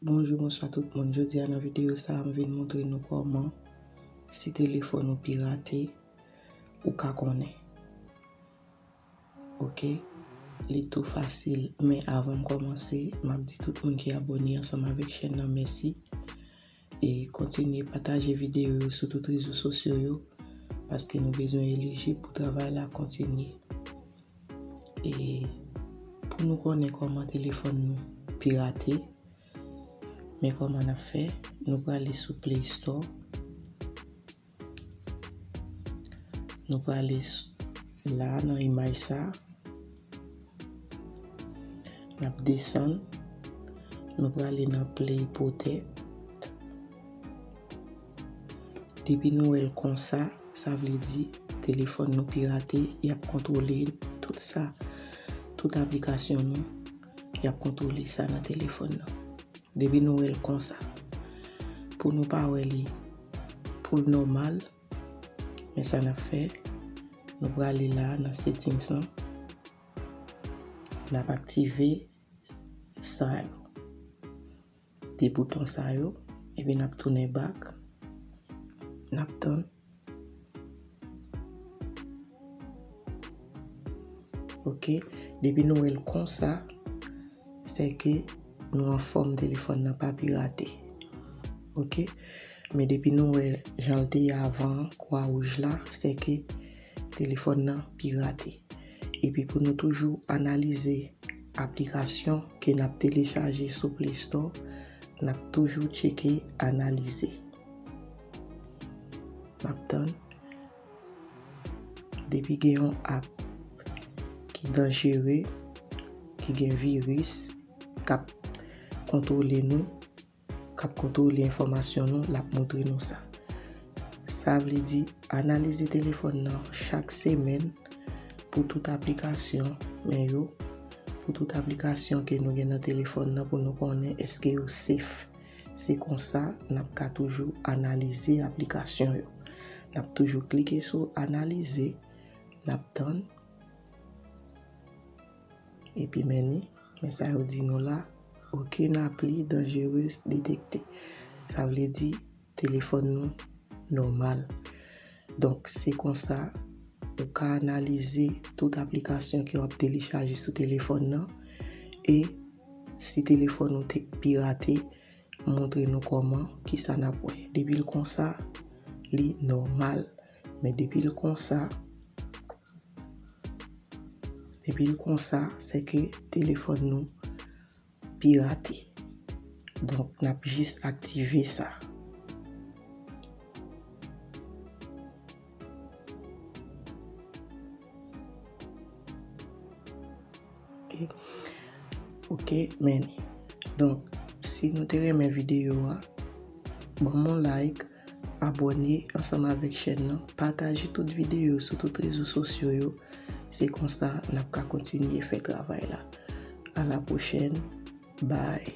Bonjou bonswa tout moun jodi a nan videyo sa m vin montre nou kòman si telefòn ou pirate ou ka konnen ok li tou fasil men avan m kòmanse m ap di tout moun ki abòne ansanm avèk chèn nan mèsi E kontinye pataje videyo yo sou tout rezo sosyo yo paske nou bezwen elijib pou travay la kontinye. E pou nou konnen kòman telefòn nou pirate, men kòman n ap fè, nou prale sou Play Store. Nou prale la nan imaj sa. N ap desann. Nou prale nan play potet. Depi nou wè l konsa, sa vle di telefòn nou pirate, y ap kontwole tout sa, tout aplikasyon nou. y ap kontwole sa nan telefòn nan. Depi nou wè l konsa, pou nou pa wè li pou l nòmal, men sa n ap fè, nou prale la nan settings lan, n ap aktive sa yo. 2 bouton sa yo epi nap tounen back nap tann ok depi nou wèl konsa se ke nou anfòm telefòn nan pa pirate ok men depi nou wè jan l te ye avan kwa wouj la se ke Telefòn nan pirate. Epi pou nou toujou analize aplikasyon ke n ap telechaje sou Play Store, n ap toujou tcheke analize. N ap tann. Depi gen yon app ki danjere, ki gen viris, k ap kontwole nou. k ap kontwole enfòmasyon nou, l ap montre nou sa. Sa vle di, analize telefòn nan chak semèn pou tout aplikasyon men yo, pou tout aplikasyon ke nou gen nan telefòn nan pou nou konnen eske yo sef. Se konsa n ap ka toujou analize aplikasyon yo. N ap toujou klike sou analize, n ap tann. Epi men ni, men sa yo di nou la, Aucune appli dangereuse détectée. Sa vle di, telefòn nou nòmal. Donk, se konsa, ou ka analize tout aplikasyon ke w ap telechaje sou telefòn nan, e si telefòn ou te pirate, montre nou kòman, kisa n ap wè. Depi l konsa, li nòmal. Men depil konsa, depil konsa se ke telefon nou pirate. Donk nap jis aktive sa. Ok men Donk si nou te renmen videyo a Ban m yon like Abone ansanm avèk chèn nan Pataje tout videyo sou tout rezo sosyo yo Se konsa n ap ka kontinye fè travay la A la pwochèn Bye